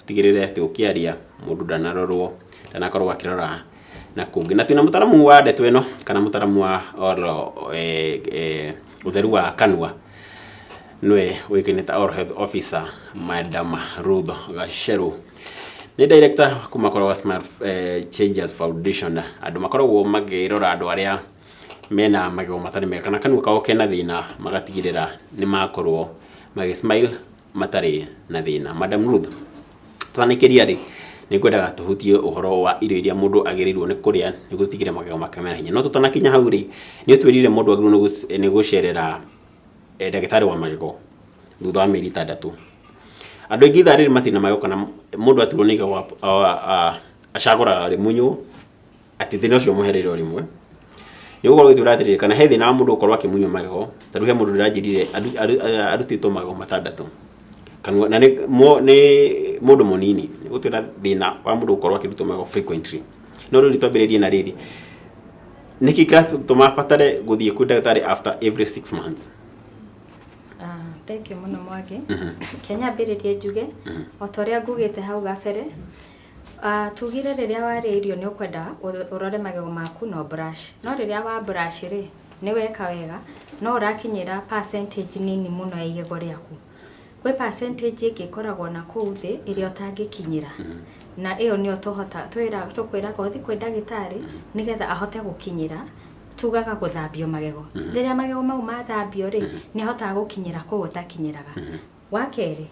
ũtigĩrĩre atĩ ũkĩaria mũndũ ndanarorwo, ndanakorwo akĩrora na kũngĩ. Na twĩna mũtaramu wa ndeto ĩno, kana mũtaramu wa oro ũtheru wa kanua, nĩwe ũĩkaine ta Oral Health Officer Madam Ruth Gacerũ. Nĩ director kuma kwa Smile Changes Foundation. Andũ makoragwo makĩrora andũ arĩa mena magego matarĩ mega, kana kanua kao kena thĩna, magatigĩrĩra nĩ makorwo magĩ smile. matarĩ na thĩna. Madam Ruth, twanĩkĩria rĩ, nĩ ngwendaga tũhutie ũhoro wa irio iria mũndũ agĩrĩirwo nĩ kũrĩa nĩ gũtigĩrĩra magego make mena hinya. No tũtanakinya hau rĩ, nĩ ũtwĩrire mũndũ agĩrĩirwo nĩ gũcerera eh, ndagĩtarĩ wa magego thutha wa mĩeri ĩtandatũ. Andũ aingĩ ithaa rĩrĩ matirĩ na magego kana mũndũ aturwo nĩ igego acagũraga rĩmunywo atĩ thĩna ũcio ũmũhereire o rĩmwe nĩ gũkorwo gĩtwĩra atĩrĩrĩ kana he thĩna wa mũndũ gũkorwo akĩmunywo magego ta rĩu he mũndũ ndĩranjĩrire aru- aru- eh, arutĩtwo magego matandatũ kanua na nĩ mo- nĩ mũndũ mũnini nĩ gũtwĩra thĩna wa mũndũ gũkorwo akĩrutwo magego frequently no rĩu nĩtwambĩrĩrie na rĩrĩ nĩkĩ kĩratũma batare gũthiĩ kwĩ ndagĩtarĩ after every six months Ah, thengiũ mũno mwangi Mhm. kenya mbĩrĩrie njuge o ta ũrĩa ngugĩte hau gabere Tugire rĩrĩa warĩa irio nĩ ũkwenda ũrore magego maku na ũ brush. No rĩrĩa wa brush rĩ, nĩ weka wega, no ũrakinyĩra percentage nini mũno ya igego rĩaku. Gwĩ percentage ĩngĩ ĩkoragwo na kũu thĩ ĩrĩa ũtangĩkinyĩra. Na ĩyo nĩyo tũkwĩraga ũthi kwĩ ndagĩtarĩ nĩ getha ahote gũkinyĩra, tugaga gũthambio magego. Rĩrĩa magego mau mathambio rĩ, nĩ ahotaga gũkinyĩra kũu ũtakinyĩraga. Wa kerĩ,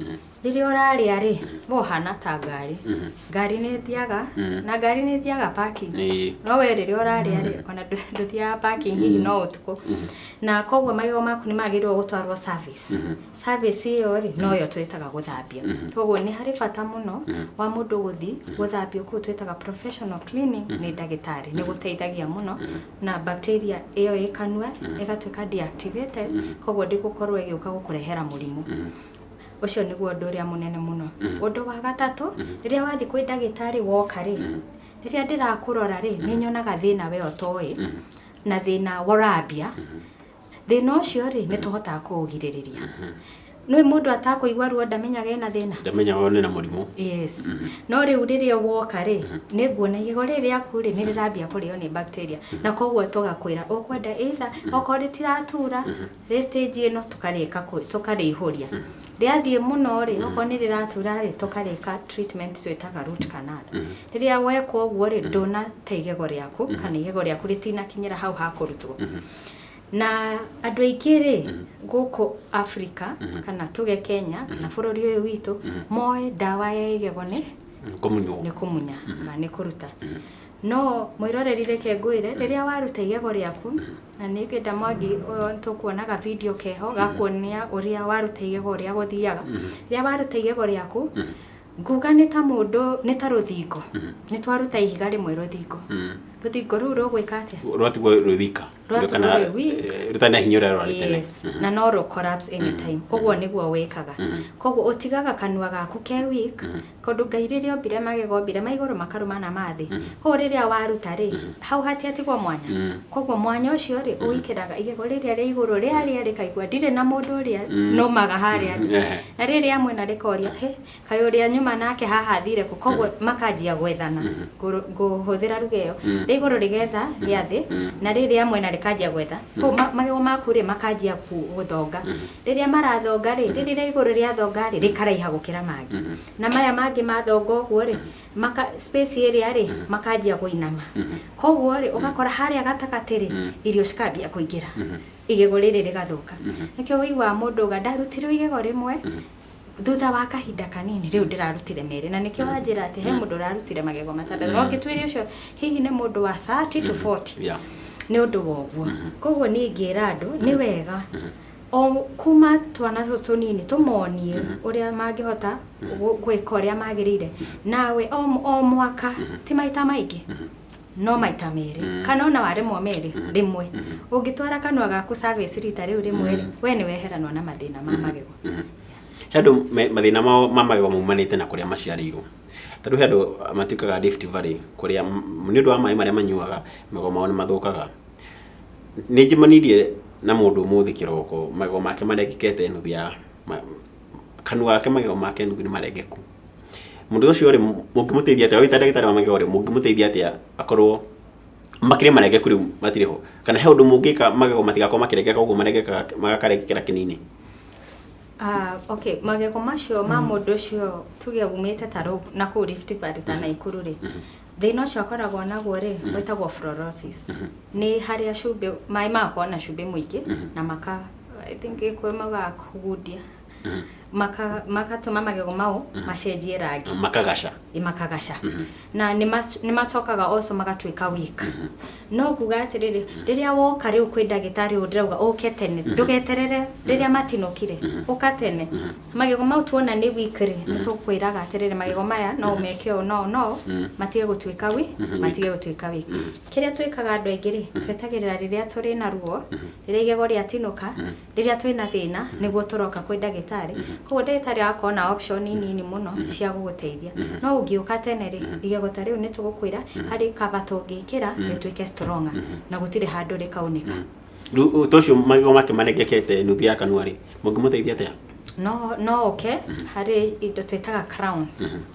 rĩrĩa ũrarĩa-rĩ, we ũhana ta ngari. Ngari nĩ ĩthiaga, na ngari nĩ ĩthiaga parking. Ĩĩ. No we rĩrĩa ũrarĩa-rĩ, ona ndũ- ndũthiaga parking hihi no ũtukũ. Na koguo magego maku nĩ magĩrĩirwo gũtwarwo service. Service ĩyo-rĩ, noyo twĩtaga gũthambia. Koguo nĩ harĩ bata mũno wa mũndũ gũthiĩ gũthambio kũu twĩtaga professional cleaning nĩ ndagĩtarĩ. Nĩ gũteithagia mũno. na bacteria ĩyo ĩ kanua ĩgatuĩka deactivated koguo ndĩgũkorwo ĩgĩũka gũkũrehera mũrimũ ũcio nĩguo ũndũ ũrĩa mũnene mũno ũndũ wa gatatũ rĩrĩa wathiĩ kwĩ ndagĩtarĩ woka rĩ rĩrĩa ndĩrakũrora rĩ nĩ nyonaga thĩna we ũtoĩ na thĩna ũrambia Thĩna ũcio rĩ, nĩ tũhotaga kũũgirĩrĩria. Nĩ mũndũ atakũigua ruo ndamenyaga ena thĩna. Ndamenyaga one na mũrimũ. Yes. No rĩu rĩrĩa woka rĩ, nĩ nguona igego rĩrĩ rĩaku rĩ, nĩ rĩrambia kũrĩo nĩ bacteria. Na koguo tũgakwĩra ũkwenda either okorwo rĩtiratura rĩ stage ĩno tũkarĩka kũ- tũkarĩihũria. Rĩathiĩ mũno rĩ, okorwo nĩ rĩratura rĩ, tũkarĩka treatment twĩtaga root canal. Rĩrĩa weka ũguo rĩ, ndũnate igego rĩaku, kana igego rĩaku rĩtinakinyĩra hau ha kũrutwo. Na andũ aingĩ rĩ gũkũ Africa kana tuge Kenya kana bũrũri ũyũ witũ moĩ ndawa ya igego nĩ kũmunywo nĩ kũmunya na nĩ kũruta no mwĩroreri reke ngwĩre rĩrĩa waruta igego rĩaku na nĩ ngenda mwangi ũyũ tũkuona ga video keho gakuonia ũrĩa waruta igego ũrĩa gũthiaga rĩrĩa waruta igego rĩaku Nguga nĩ ta mũndũ, nĩ ta rũthingo. Nĩ twaruta ihiga rĩmwe rũthingo. Rũthingo rũu rũgwĩka atĩa? rwatigwo rwĩ wika Rwatigwo Kana, rwĩ wika. eh, rũtarĩ na hinya ũrĩa rwarĩ tene Yes, na no rũ collapse anytime ũguo nĩguo wĩkaga koguo ũtigaga kanua gaku ke weak tondũ ngai rĩrĩa ombire magego ombire ma igũrũ makarũma na ma thĩ koguo rĩrĩa waruta rĩ hau hatiatigwo mwanya koguo mwanya ũcio rĩ ũwĩkĩraga igego rĩrĩa rĩa igũrũ rĩarĩa rĩkaigua ndirĩ na mũndũ ũrĩa nũmaga harĩa thĩ Ehe. Na rĩrĩ amwe na rĩkoria, hĩ, kaĩ ũrĩa nyuma nake haha athire kũ? Koguo makanjia gwethana, ngũ- ngũhũthĩra ruga ĩyo. Rĩa igũrũ rĩgetha rĩa thĩ, na rĩrĩ amwe na rĩkanjia gwetha. Koguo ma- magego maku-rĩ, makanjia ku- gũthonga. Rĩrĩa marathonga-rĩ, rĩrĩ rĩa igũrũ rĩathonga-rĩ, rĩkaraiha gũkĩra mangĩ. Na maya mangĩ mathonga ũguo-rĩ, maka- space ĩrĩa-rĩ, makanjia kũinama. Koguo-rĩ, ũgakora harĩa gatagatĩ-rĩ, irio cikambia kũingĩra. igego rĩrĩ rĩgathũka nĩkĩo wĩiguaga mũndũ auga ndarutirwo igego rĩmwe thutha wa kahinda kanini rĩu ndĩrarutire merĩ na nĩkĩo wanjĩra atĩ he mũndũ ũrarutire magego matandatũ no ngĩtuĩria ũcio hihi nĩ mũndũ wa 30 to 40 Yeah. nĩ ũndũ wa ũguo koguo niĩ ngĩra andũ nĩ wega o kuma twana tũ tũnini tũmonie ũrĩa mangĩhota gũ- gwĩka ũrĩa magĩrĩire nawe o m- o mwaka ti maita maingĩ no maita merĩ mm. kana ona waremwo merĩ mm. rĩmwe mm -hmm. ũngĩtwara kanua gaku service rita rĩu rĩmwe rĩ mm. we nĩ weheranwo na mathĩna ma mm-hmm. magego mm -hmm. he andũ mathĩna mao ma magego maumanĩte na kũrĩa maciarĩirwo ta rĩu he andũ matuĩkaga Rift Valley kũrĩa nĩ ũndũ wa maĩ marĩa manyuaga magego mao nĩ mathũkaga nĩ njemanirie na mũndũ ũmũthĩ kĩroko magego make marengekete nuthu ya kanua gake magego make nuthu nĩ marengeku Mũndũ ũcio rĩ, mũngĩmũteithia atĩa? Ũyũ ta ndagĩtarĩ wa magego rĩ, mũngĩmũteithia atĩa akorwo makĩrĩ marengeku rĩu matirĩ ho? Kana he ũndũ mũngĩka magego matigakorwo makĩrengeka ũguo marengekaga magakarengekera kĩnini? Ah, okay, magego macio ma mũndũ ũcio tuge umĩte ta rũu na kũu Rift Valley ta Naikuru rĩ, thĩna ũcio akoragwo naguo rĩ, wĩtagwo fluorosis. Nĩ harĩa cumbĩ, maĩ magakorwo na cumbĩ mũingĩ na maka, I think Gĩkũyũ maugaga kũgundia. maka- magatũma magego mau macenjie rangi makagaca makagaca na nĩ mac- nĩ macokaga also magatuĩka weak no kuga atĩrĩrĩ rĩrĩa woka rĩu kwĩ ndagĩtarĩ ũyũ ndĩrauga ũke tene ndũgeterere rĩrĩa matinũkire ũka tene magego mau tuona nĩ weak rĩ nĩ tũkwĩraga atĩrĩrĩ magego maya no ũmeke ũũ no no matige gũtuĩka wi matige gũtuĩka wi kĩrĩa twĩkaga andũ aingĩ rĩ twetagĩrĩra rĩrĩa tũrĩ na ruo rĩrĩa igego rĩatinũka rĩrĩa twĩna thĩna nĩguo tũroka kwĩ ndagĩtarĩ koguo ndagĩtarĩ agakorwo na option nini mũno cia gũgũteithia no ũngĩũka tene rĩ igego ta rĩu nĩ tũgũkwĩra harĩ cover tũngĩkĩra rĩtuĩke stronger na gũtirĩ handũ rĩkaunĩka Rĩu ũ- ta ũcio magego make marengekete nuthu ya kanua rĩ mũngĩmũteithia atĩa no no ũke harĩ indo twĩtaga crowns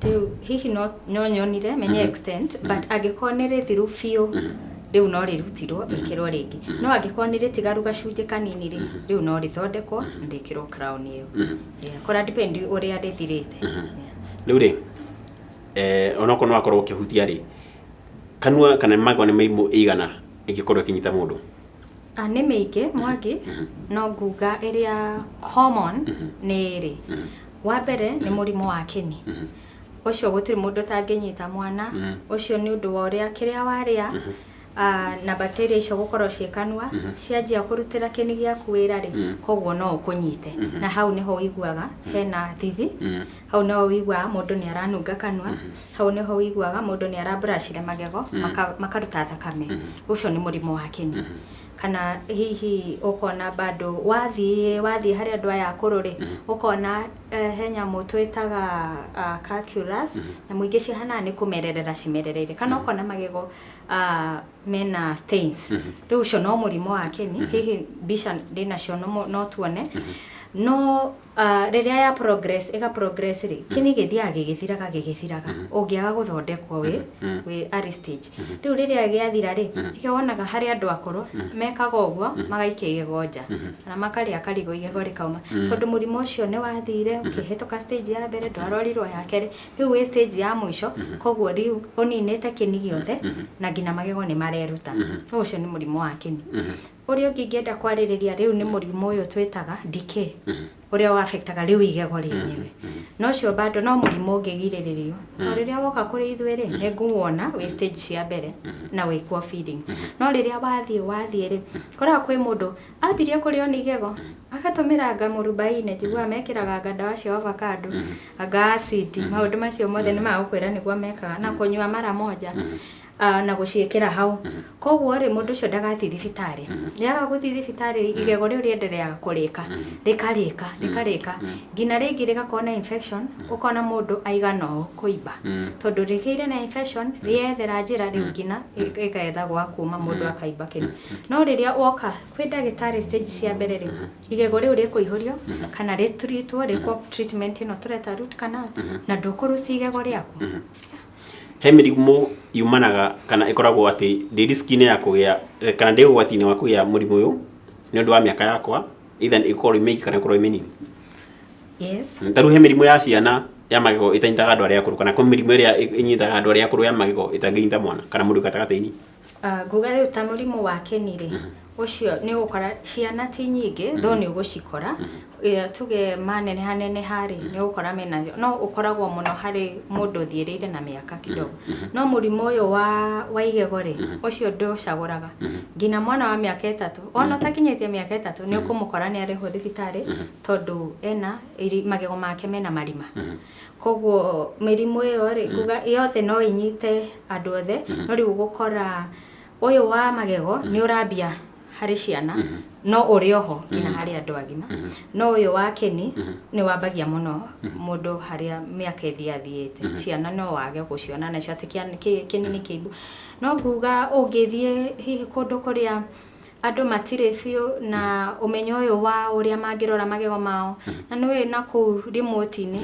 Rĩu hihi no, no nyonire menye mm-hmm. extent mm-hmm. but angĩkorwo nĩ rĩthiru biũ mm-hmm. rĩu no rĩrutirwo rĩkĩrwo rĩngĩ no angĩkorwo nĩ rĩtigaru gacunjĩ kanini rĩ rĩu no rĩthondekwo na rĩkĩrwo crown ĩyo kora depend ũrĩa rĩthirĩte rĩu rĩ eh, onokorwo no akorwo ũkĩhutia rĩ kanua kana magwa nĩ mĩrimũ ĩigana ĩngĩkorwo ĩkĩnyita mũndũ ah, nĩ mĩingĩ mwangi no nguga ĩrĩa common nĩ ĩrĩ Wa mbere nĩ mũrimũ wa kĩni. Ũcio gũtirĩ mũndũ ũtangĩnyita mwana. Ũcio nĩ ũndũ wa ũrĩa kĩrĩa warĩa na bacteria icio gũkorwo ciĩ kanua, cianjia kũrutĩra kĩni gĩaku wĩra rĩ, koguo no ũkũnyite. Na hau nĩho ũiguaga hena thithi, hau nĩho ũiguaga mũndũ nĩ aranunga kanua, hau nĩho ũiguaga mũndũ nĩ ara brush magego makaruta thakame. Ũcio nĩ mũrimũ wa kĩni. Kana hihi ũkona bado wathiĩ wathiĩ harĩ andũ aya akũrũ rĩ, ũkona eh, he nyamũ twĩtaga ah, calculus, nyamũ ingĩ cihanaga nĩ kũmererera cimerereire. Kana ũkona magego ah, mena stains. Rĩu ũcio no mũrimũ wa kĩni, hihi mbica ndĩnacio no no tuone. No Rĩrĩa ya progress, ĩga progress rĩ, kĩnĩ gĩthiaga gĩgĩthiraga gĩgĩthiraga ũngĩaga gũthondekwo wĩ wĩ early stage. Rĩu rĩrĩa gĩathira rĩ, nĩkĩo wonaga harĩ andũ akũrũ mekaga ũguo magaikia igego nja kana makarĩa karigũ igego rĩkauma. Tondũ mũrimũ ũcio nĩ wathire ũkĩhĩtũka stage ya mbere ndwarorirwo ya kerĩ, rĩu wĩ stage ya mũico koguo rĩu ũninĩte kĩni gĩothe na nginya magego nĩ mareruta. Ũcio nĩ mũrimũ wa kĩni. Ũrĩa ũngĩ ingĩenda kwarĩrĩria rĩu nĩ mũrimũ ũyũ twĩtaga decay, ũrĩa ũ affectaga rĩu igego rĩenyewe. Na ũcio bado no mũrimũ ũngĩgirĩrĩrio. Tondũ rĩrĩa woka kũrĩ ithuĩ rĩ, nĩ ngũwona wĩ stage cia mbere na wĩ kuo feeding. No rĩrĩa wathiĩ wathiĩ rĩ, ũkoraga kwĩ mũndũ ambirie kũrĩo nĩ igego, agatũmĩra anga mũrubaine, njiguaga mekĩraga anga ndawa cia ovacado, anga acid, maũndũ macio mothe nĩ magũkwĩra nĩguo mekaga, na kũnyua mara moja. ah, na gũciĩkĩra hau koguo rĩ mũndũ ũcio ndagathiĩ thibitarĩ nĩaga gũthiĩ thibitarĩ igego rĩu rĩendereaga kũrĩka rĩkarĩka rĩkarĩka nginya rĩngĩ rĩgakorwo na infection ũkona mũndũ aigana ũũ kũimba tondũ rĩgĩire na infection rĩethera njĩra rĩu nginya rĩgetha gwa kuma mũndũ akaimba kĩni no rĩrĩa woka kwĩ ndagĩtarĩ stage cia mbere rĩ igego rĩu rĩkũihũrio kana rĩtritwo rĩkwo treatment ĩno tũreta root canal na ndũkũrucia igego rĩaku He mĩrimũ yumanaga kana ĩkoragwo atĩ ndĩ risk -inĩ ya kũgĩa kana ndĩ ũgwati-inĩ wa kũgĩa mũrimũ ũyũ nĩ ũndũ wa mĩaka yakwa either ĩkorwo ĩ mĩingĩ kana ĩkorwo ĩ mĩnini? Yes. Ta rĩu he mĩrimũ ya ciana ya magego ĩtanyitaga andũ arĩa akũrũ kana kwĩ mĩrimũ ĩrĩa ĩnyitaga andũ arĩa akũrũ ya magego ĩtangĩnyita mwana kana mũndũ wĩ gatagatĩ-inĩ? Ah, nguga rĩu ta mũrimũ wa kĩni rĩ ũcio nĩ ũgũkora ciana ti nyingĩ tho nĩ ũgũcikora Eh, tuge maneneha neneha rĩ nĩ ũgũkora mena no ũkoragwo mũno harĩ mũndũ ũthiĩrĩire na mĩaka kidogo no mũrimũ ũyũ wa wa igego rĩ ũcio ndũcagũraga nginya mwana wa mĩaka ĩtatũ ona ũtakinyĩtie mĩaka ĩtatũ nĩ ũkũmũkora nĩ arĩho thibitarĩ tondũ ena iri- magego make mena marima Koguo mĩrimũ ĩyo rĩ, nguga yothe no ĩnyite andũ othe, no rĩu ũgũkora ũyũ wa magego nĩ ũrambia harĩ ciana, no ũrĩ oho nginya harĩ andũ agima. No ũyũ wa kĩni nĩ wambagia mũno mũndũ harĩa mĩaka ĩthiathiĩte. Ciana no wage gũciona nacio atĩ kĩa- kĩ- kĩni nĩ kĩimbu. No nguga ũngĩthiĩ hihi kũndũ kũrĩa andũ matirĩ biũ na ũmenyo ũyũ wa ũrĩa mangĩrora magego mao na nĩ ũĩ na kũu remote-inĩ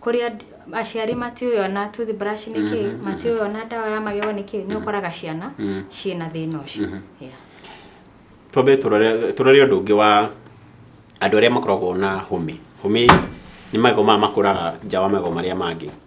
kũrĩa aciari matiũĩ ona toothbrush nĩ kĩ matiũĩ ona ndawa ya magego nĩ kĩ nĩ ũkoraga ciana ciĩ na thĩna ũcio Yeah. twambe tũrore tũrore ũndũ ũngĩ wa andũ arĩa makoragwo na hũmĩ hũmĩ nĩ magego maya makũraga nja wa magego marĩa mangĩ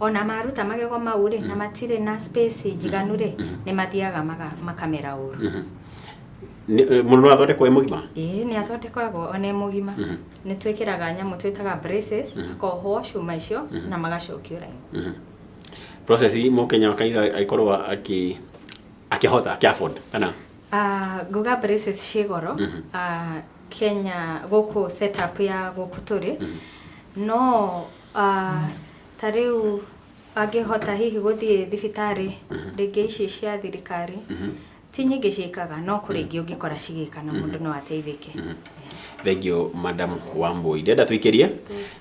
O na maruta magego mau-rĩ, na matirĩ na space njiganu-rĩ, nĩ mathiaga maga- makamera ũru. Mhm. Nĩ- eh, mũndũ no athondekwo e mũgima Ĩĩ, nĩ athondekagwo o na e mũgima. Mhm. Nĩ twĩkĩraga nyamũ twĩtaga braces, Mhm. akohwo cuma icio, Mhm. na magacokio raini. Mhm. process mũkenya wa kaira agĩkorwo akĩ akĩhota akĩ afford kana Ah, nguga braces ciĩ goro Mhm. ah, kenya gũkũ setup ya gũkũ tũrĩ no ah, ta rĩu angĩhota hihi gũthiĩ thibitarĩ rĩngĩ ici cia thirikari, ti nyingĩ ciĩkaga no kũrĩ ingĩ ũngĩkora cigĩka na mũndũ no ateithĩke. Thengio madam Wambui. Ndĩrenda tũikĩrie,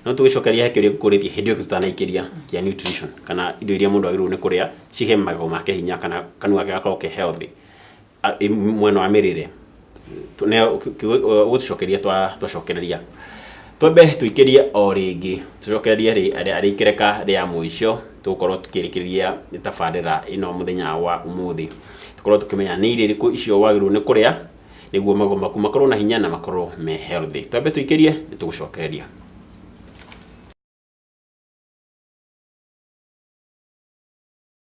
no tũgĩcokeria he kĩũria ngũkũrĩtie hĩndĩ ĩyo tũtanaikĩria kĩa nutrition kana indo iria mũndũ agĩrĩirwo nĩ kũrĩa cihe magego make hinya kana kanua gake gakorwo ke healthy. a- i- mwena wa mĩrĩre Tu- ne- ki- ki- ũ- gũtũcokeria twa- twacokereria twambe tũikĩrie o rĩngĩ tũcokererie rĩ- arĩ- arĩ ikereka rĩa mũico tũgũkorwo tũkĩrĩkĩrĩria tabarĩra ĩno mũthenya wa ũmũthĩ tũkorwo tũkĩmenya nĩ irio irĩkũ icio wagĩrĩirwo nĩ kũrĩa nĩguo magego maku makorwo na hinya na makorwo me healthy twambe tũikĩrie nĩ tũgũcokereria